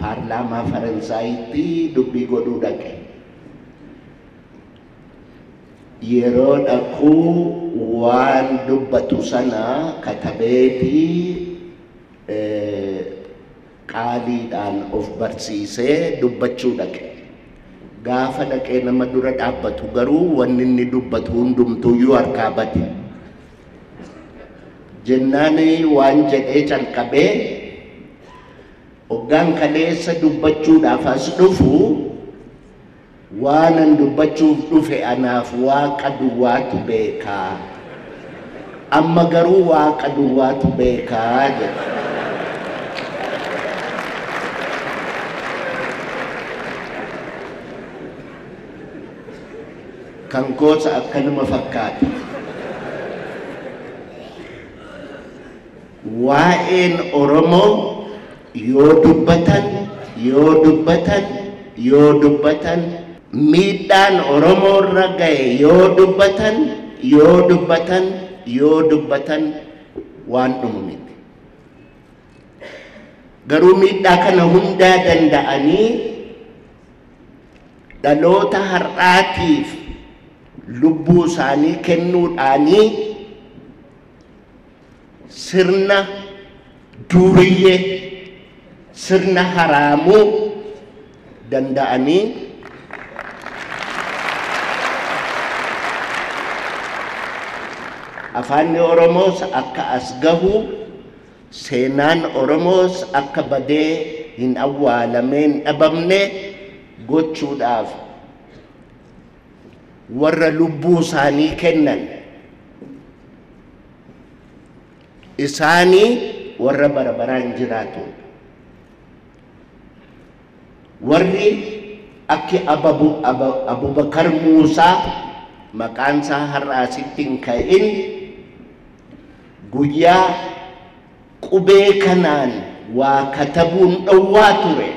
Paarlaamaa Faransaayitti dubbii godhuu dhaqe. Yeroo dhaqu waan dubbatu sana katabeeti qaaliidhaan of barsiisee dubbachuu dhaqe. Gaafa dhaqee nama dura dhaabbatu garuu wanni inni dubbatu hundumtuuyyuu harkaa bade. Jennaan waan jedhee calqabee Hoggaan kaleessa dubbachuudhaaf as dhufu, waanan dubbachuuf dhufe anaaf Waaqa duwwaatu beeka. Amma garuu Waaqa duwwaatu beeka jedhe. Kan koos akkanuma fakkaata. Waa'een Oromoo yoo dubbatan, yoo dubbatan, yoo dubbatan, miidhaan Oromoorra ga'e yoo dubbatan, yoo dubbatan, yoo dubbatan waan dhumu miti. Garuu miidhaa kana hundaa danda'anii dhaloota har'aatiif lubbuu isaanii kennuudhaanii sirna duuriyyee sirna haraamuu danda'anii afaanni oromoos akka as gahu seenaan oromoos akka badee hin awwaalameen dhabamne gochuudhaaf warra lubbuu isaanii kennan isaanii warra bara baraan jiraatu warri akki ababu Aba- abubakar muusaa maqaan isaa har'a asitti hin ka'in guyyaa Qubee kanaan waa katabuun dhowwaa ture.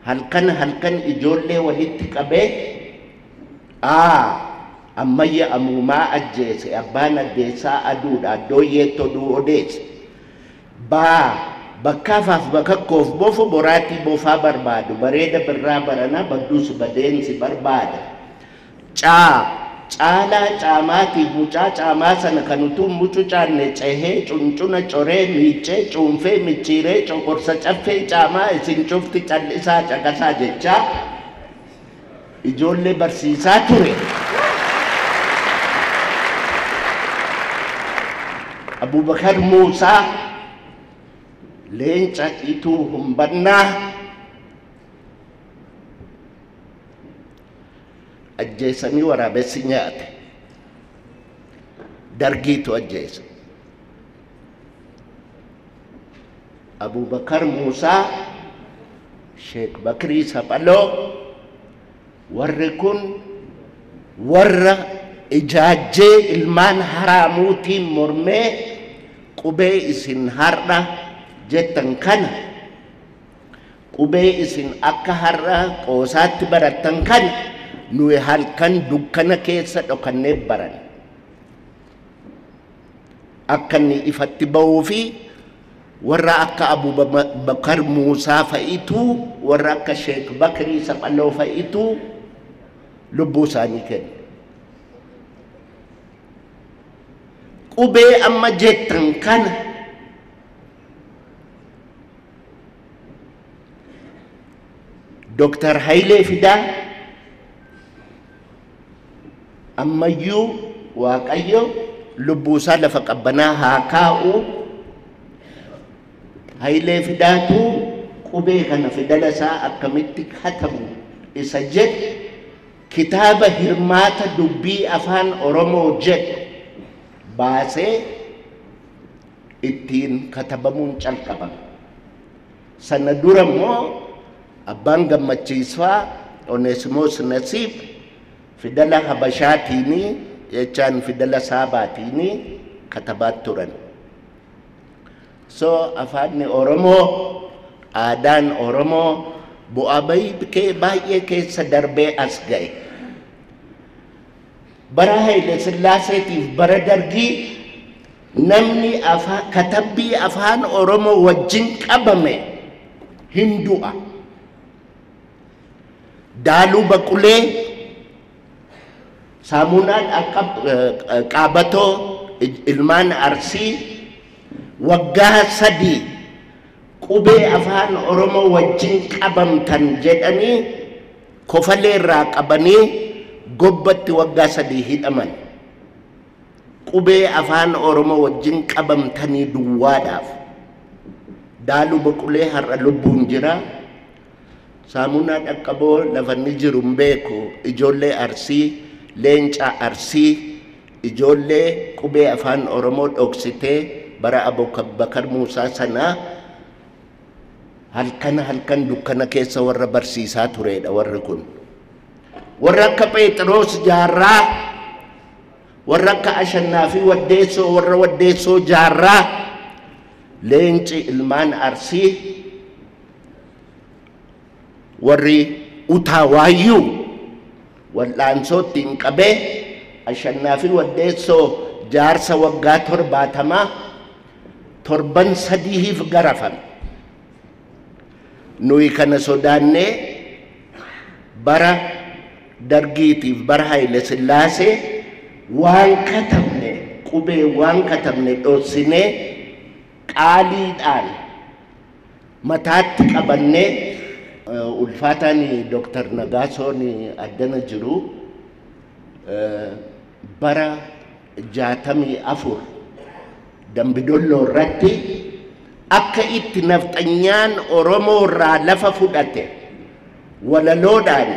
Halkan halkan ijoollee walitti qabee, A. Ammayya Amuumaa ajjeese, Abbaan Addeessaa Aduudha, Addooyyeetti oduu odeesse. B. Bakkaa faaf bakakkoof bofu boraatii bofaa barbaadu, Bareeda Birraa baranaa badduus badeen si barbaada. Caa. Caalaa caamaatiif mucaa caamaa sana kan utuu hin mucucaanne cehee, cuncuna coree, miiccee, cuunfee, micciiree, coqorsa caffee caamaa isin cufti cal'isaa caqasaa jechaa ijoollee barsiisaa ture. Abubakar Muusaa, Leenca Ituu Humbannaa, ajjeesanii waraabessi nyaate dargiitu ajjeese abubakar muusaa sheek bakrii saphaloo warri kun warra ijaajjee ilmaan haraamuutiin mormee qubee isin har'a jettan kana Qubee isin akka har'a qoosaatti barattan kana nuyi halkan dukkana keessa dhokannee baranne. Akka inni ifatti ba'uu fi warra akka Abubakar Muusaa fa'itu warra akka Sheek Bakrii Saphaloo fa'itu lubbuu isaanii kenne. Qubee amma jettan kana Dooktar Hayilee Fidaa ammayyuu Waaqayyo lubbuusaa lafa qabbanaa haa kaa'u. Hayilee Fidaatu qubee kana fidala isaa akkamitti katabu isa jedhu kitaaba hirmaata dubbii afaan Oromoo jedhu baasee ittiin katabamuun calqabame. Sana dura immoo abbaan gammachiisfaa Oneesimoos Nasiib fidala Habashaatiini jechaan fidala Saabaatiini katabaa turan. So afaanni Oromoo aadaan Oromoo bu'aa bahii baay'ee keessa darbee as ga'e. Bara Haile Sillaaseetiif bara Dargii namni katabbii afaan Oromoo wajjin qabame hin du'a. Daaluu Baqulee, Saamuunaa Qaabatoo ilmaan Arsii waggaa sadii qubee afaan Oromoo wajjin qabamtan jedhanii Kofalee irraa qabanii Gobbatti waggaa sadii hidhaman. Qubee Afaan Oromoo wajjin qabamtanii duwwaadhaaf. Daaluu Boqulee har'a lubbuun jira. Saamunaa Dhaqqaboo lafa inni jiru hin beeku. Ijoollee Arsii, Leenca Arsii, ijoollee qubee Afaan Oromoo dhoksitee bara Abubakar Muusaa sanaa Halkan halkan dukkana keessa warra barsiisaa tureedha warri kun. Warra akka Pheexiroos jaarraa, warra akka Ashannaa fi Waddeessoo, warra Waddeessoo jaarraa, leenci ilmaan Arsii, warri utaa waayyuu wal'aansoo ittiin qabee Ashannaa fi Waddeessoo jaarsa waggaa torbaatamaa torban sadihiif garafame. Nuyi kana sodaannee bara Dargiitiif bara Hayile Sillaasee waan katabne qubee waan katabne dhossinee qaaliidhaan mataatti qabannee ulfaataan Dooktar Nagaasoon addana jiru bara 64 Dambidolloo irratti akka itti nafxanyaan Oromoo irraa lafa fudhate walaloodhaan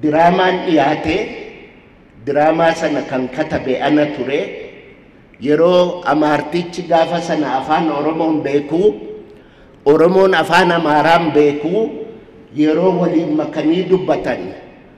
diraamaan dhiyaate diraamaa sana kan katabe ana ture yeroo amaartichi gaafa sana afaan Oromoon beekuu Oromoon afaan Amaaraan beekuu yeroo waliin makanii dubbatan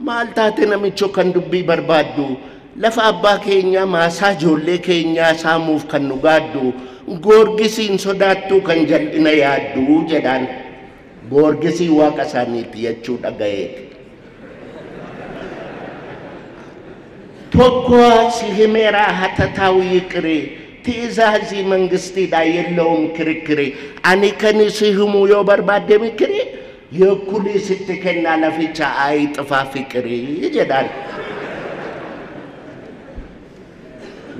Maal taate namicho kan dubbii barbaaddu? Lafa abbaa keenyaa maasaa ijoollee keenyaa saamuuf kan nu gaaddu goorgisii hin sodaattuu kan jal'ina yaaddu jedhaan. Goorgisii waaqa isaaniiti jechuu dhagayeeti. Tokko si himeeraa hatataa'u yiqirii ti'izaazii mangistiidhaa yellaa'uun kirikiri ani kan si himuu yoo barbaadde mikirii Yokkunii sitti kennaa laficha ayi xifaa fiqirii jedhaan.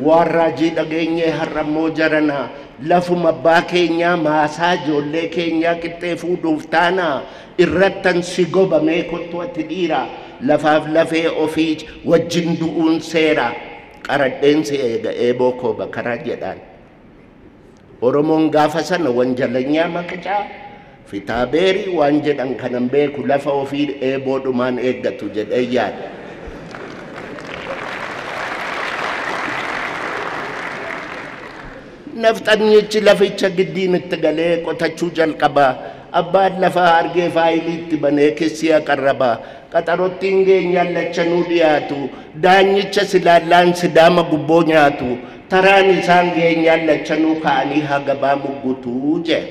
Waan raajii dhageenyee har'ammoo jaranaa lafuma abbaa keenyaa maasaa ijoollee keenyaa qixxee fuudhuuf taanaa irrattan si gobamee kottu ati dhiira lafaaf lafee ofii wajjin du'uun seera qaradheen si eega eeboo koo bakaraa jedhaan. Oromoon gaafa sana wanjalanyaa maqicaa fitaabeerii waan jedhan kanan beeku lafa ofii eeboodhumaan eeggatu jedhee yaada. Nafxanyichi laficha giddiin itti galee qotachuu jalqabaa. Abbaan lafaa argee faayilii itti banee kissii aqarrabaa. Qaxarottiin geenyaan lachanuu dhiyaatu. Daanyicha silaallaan sidaama gubboo nyaatu. Taraan isaan geenyaan lachanuu ka'anii hagabaa muggutu jeen.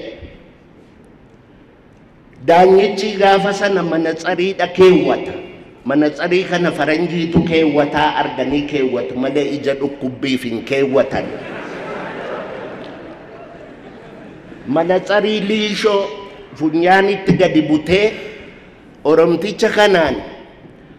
Daanyichii gaafa sana manatsariidha keewwata. Manatsarii kana faranjiitu keewwataa arganii keewwatu malee ija dhukkubbiif hin keewwatan. Manatsarii liishoo funyaanitti gadi butee Oromticha kanaan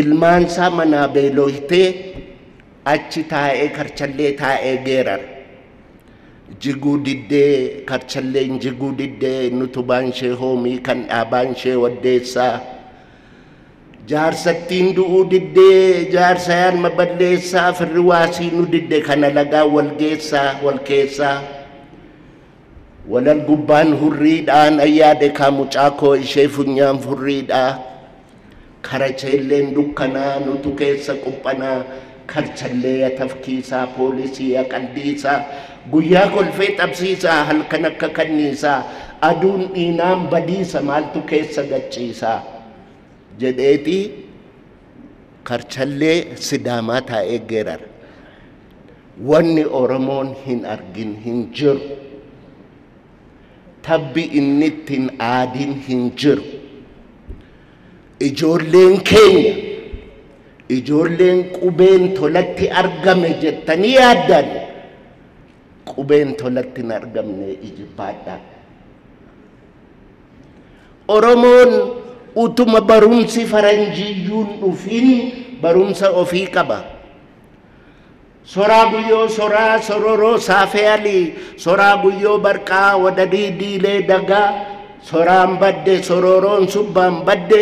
Ilmaansaa manaa beelooytee achi taa'ee karchallee taa'ee geerara. Jiguu diddee karchalleen jiguu diddee nutubaan ishee hoomii kan dhaabaan ishee waddeessaa. Jaarsattiin du'uu diddee jaarsayaan maballeessaa firri waasii nu didde kana lagaa walgeessaa walkeessaa. Walal gubbaan hurrii dhaa nan yaade kaa mucaa koo ishee funyaan furrii dhaa karacheelleen dukkanaa nutu keessa quphanaa karchallee ya tafkiisaa poolisii ya qaldiisaa guyyaa kolfee xabsiisaa halkan akka kanniisaa aduun dhiinaan badiisa maaltu keessa gachiisaa jedheeti karchallee sidaamaa taa'ee geerara. Wanni Oromoon hin argin hin jiru. Tabbi inni itti hin aadin hin jiru. Ijoolleen keenya, ijoolleen qubeen tolatti argame jettanii yaaddan, qubeen tolatti hin argamne ijibbaadha. Oromoon utuma barumsi faranjiiyyuu hin dhufin barumsa ofii qaba. Soraa guyyoo soraa sororoo saafeeyalii soraa guyyoo barqaa wadadii diilee dagaa soraan badde sorooroon subbaan badde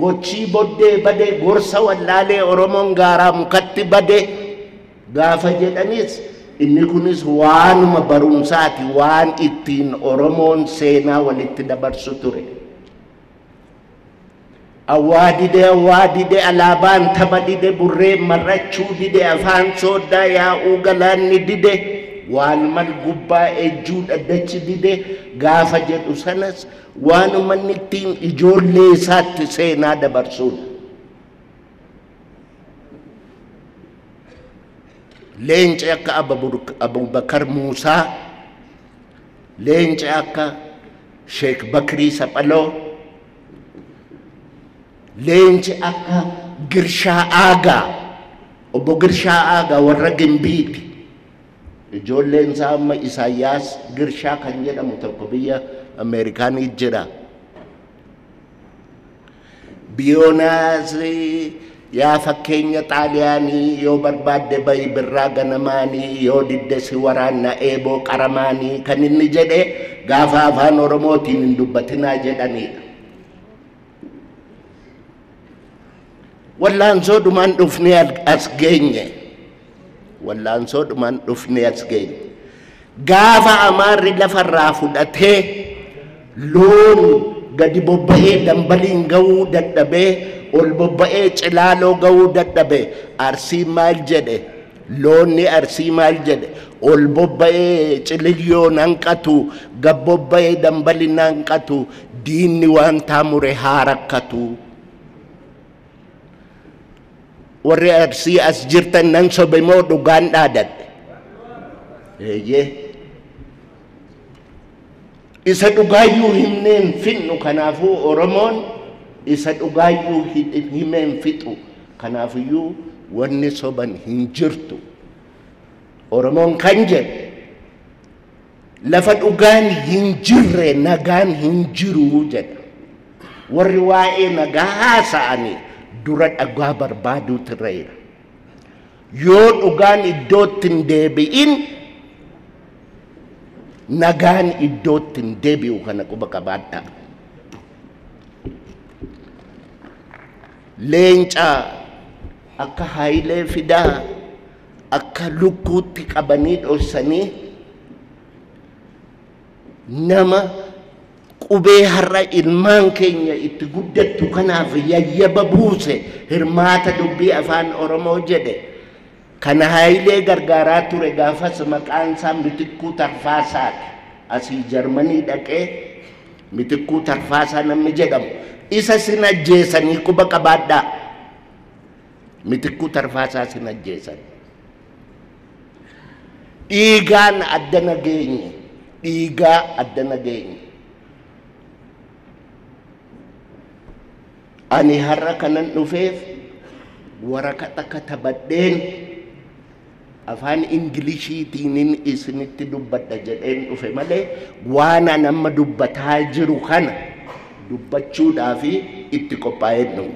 gochii boddee bade gorsa wallaalee oromoon gaaraa mukatti bade gaafa jedhanis inni kunis waanuma barumsaati waan ittiin oromoon seenaa walitti dabarsu ture. Awwaa dide awwaa dide alaabaan taba dide burreen mar'achuu dide afaan sooddaa yaa'uu galaanni dide waan mal gubbaa ejjuu dhaddachi dide gaafa jedhu sanas waan uummanni ittiin ijoollee isaatti seenaa dabarsuudha. Leenci akka Abubakar Muusaa Leenci akka Sheek Bakrii Saphaloo, leenci akka Girshaa Aagaa, obbo Girshaa Aagaa warra Gimbiiti. Ijoolleen isaa amma Isaayyaas Girshaa kan jedhamu tokko biyya Ameerikaanii jira. Biyoonaas Yaa fakkeenya Xaaliyaanii yoo barbaadde bayi birraa ganamaanii yoo didde si waraanna eeboo qaramaanii kan inni jedhe gaafa afaan Oromootiin hin dubbatinaa jedhaniidha. Wallaansoo dhumaan dhufnee as geenye. Wallaansoodhumaan dhufnee as geenye. Gaafa Amaarri lafarraa fudhatee loon gadi bobba'ee dambaliin ga'uu dadhabee ol bobba'ee cilaaloo ga'uu dadhabe Arsiin maal jedhe? Loonni Arsii maal jedhe? Ol bobba'ee cililyoon hanqatu gad bobba'ee dambaliin hanqatu diinni waan taamure haa rakkatu. warri arsii as jirtan nan sobe moo dhugaan dhaadadhe eeyyee isa dhugaayyuu himneen fixnu kanaafuu oromoon isa dhugaayyuu himeen fixu kanaafiyyuu wanni soban hin jirtu oromoon kan jedhe Lafa dhugaan hin jirre nagaan hin jiru jedha. Warri waa'ee nagaa haasa'anii dura dhugaa barbaaduutu irra jira. Yoo dhugaan iddootti hin deebi'in nagaan iddootti hin deebi'u kana quba qabaadha. Leenca akka Haayilee Fidaa akka lukkuutti qabanii dhossanii nama qubee har'a ilmaan keenya itti guddattu kanaaf yayyaba buuse hirmaata dubbii afaan oromoo jedhe kana haayilee gargaaraa ture gaafas maqaan isaa mitikkuu tarfaasaati asii jarmanii dhaqee mitikkuu tarfaasaa namni jedhamu isa sin ajjeesanii quba qabaadhaa Mitikkuu Tarfaasaas hin ajjeesan. Dhiigaan adda nageenye, dhiigaa adda nageenye. Ani har'a kanan dhufeef waraqata katabadheen Afaan Inglishiitiinin isinitti dubbadha jedheen dhufe malee waanan amma dubbataa jiru kana dubbachuudhaaf itti qophaa'een dhufe.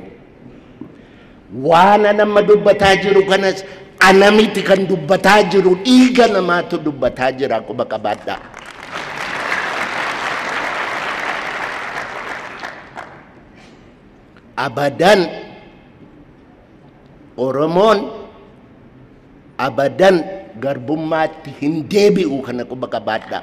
Waanan amma dubbataa jiru kanas ana miti kan dubbataa jiru dhiiga namaatu dubbataa jira quba qabaadhaa. abadan Oromoon abadan garbummaatti hin deebi'u kana quba qabaadhaa.